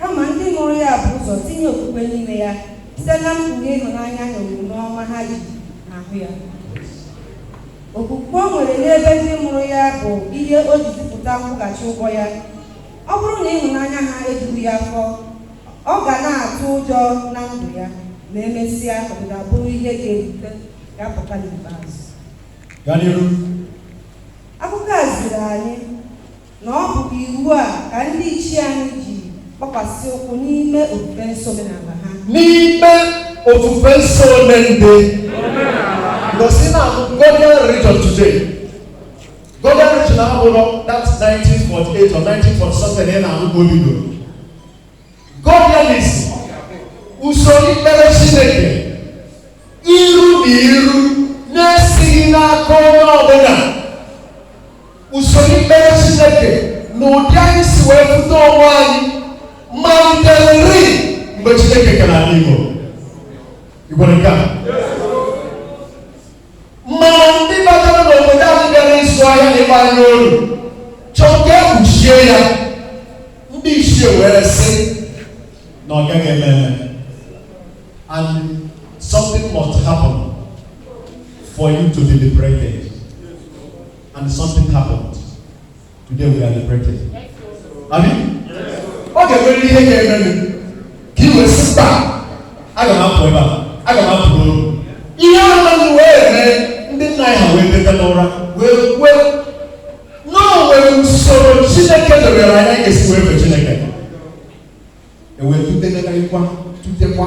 kama ndị mụrụ ya bu ụzọ tinye okwukwe n'ime ya site na mkpughe ịhụnanya na omume ọma ha ji na-ahụ ya okwukwe o nwere n'ebe ndị mụrụ ya bụ ihe o ji zipụta nkwụghachi ụgwọ ya ọ bụrụ na ịhụnanya ha ejughị ya afọ ọ ga na-atụ ụjọ na ndụ ya ma emesịa ọdịda bụrụ ihe ga-ebute ga-apụta n'ikpeazụ akụkọ a ziri anyị na ọ bụ iwu a ka ndị ichie anyị ji gbakwasị ụkwụ n'ime ofufe nsọ omenala ha n'ime ofufe nsọ ole ndị gosi na Godian religion today Godian religion abụrụ that 1948 or 1947 ị na-ahụ Golilo Godianism usoro ikpere chineke iru na iru na-esighị n'aka onye ọbụla usoro ikpere chineke na ụdị anyị si wee pụta onwe anyị malitere eri mgbe chineke kere ala igbo igwere nke a mana ndị batara n'obodo anyị bịara ịzụ ahịa na ịgba anyị olu chọọ ka ekpuchie ya ndị ichie were sị na ọ gaghị eme eme and something must happen for you to be liberated and something happened Today we are liberated. Abi? Ọ ga-enwere ihe ga-eme gị ka i wee sị taa aga m apụ ebe a aga m apụ n'olu ihe ahụ na ndị wee eme ndị nna anyị ha wee teta n'ụra wee kwue na o nwere usoro Chineke dobere anyị anyị ga-esi wee fe Chineke ewee tutekarịkwa tutekwa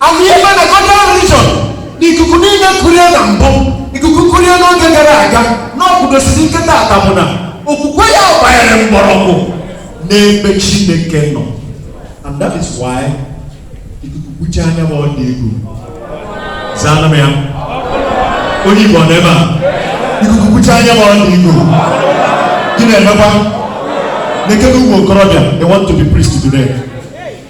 And ihe mere na Godian Religion na ikuku niile kurie na mbụ ikuku kurie n'oge gara aga na ọ kwudosiri ike taata bụ na okwukwe ya gbanyere mgbọrọgwụ n'ebe Chineke nọ and that is why ikuku kpuchi anya ma ọ dị egwu zaanụ m ya onye Igbo n'ebe a ikuku kpuchi anya ma ọ dị egwu gị na-emekwa na-ekele ụmụ okorobịa they want to be priest today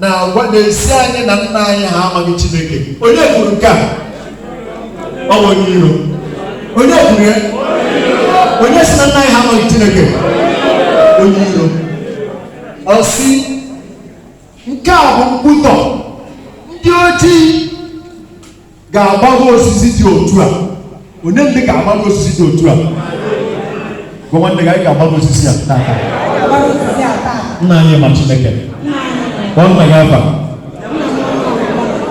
na-agwa na-asị anyị na nna anyị ha amaghị Chineke onye kwuru nke a ọ bụ onye iro onye kwuru ya onye sị na nna anyị ha amaghị Chineke onye iro ọ sị nke a bụ nkwutọ ndị ojii ga-agbago osisi dị otu a onye ndị ga-agbago osisi dị otu a gwa nwanne gị anyị ga-agbago osisi a tata nna anyị ma chineke kpọọ nna gị afa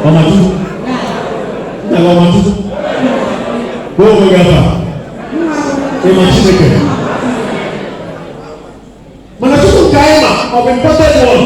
ọ matụ nna gị ọ matụ kpọọ onwe gị afa ị ma chineke mana tupu nke anyị ma ọ bụ important one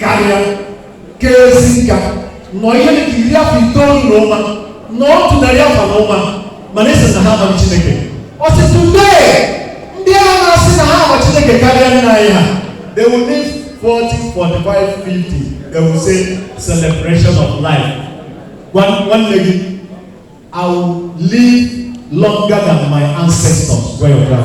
karịa kaa ezi nka nọọ ihe dị ka iri afọ itoolu n'ụwa nọọ otu narị afọ n'ụwa mana a sị na ha amaghị chineke ọtụtụ mgbe ndị a na-asị na ha ma chineke karịa nna anyị ha they will live 40 45 50 they will say celebration of life nwanne gị i will live longer than my ancestors where you from.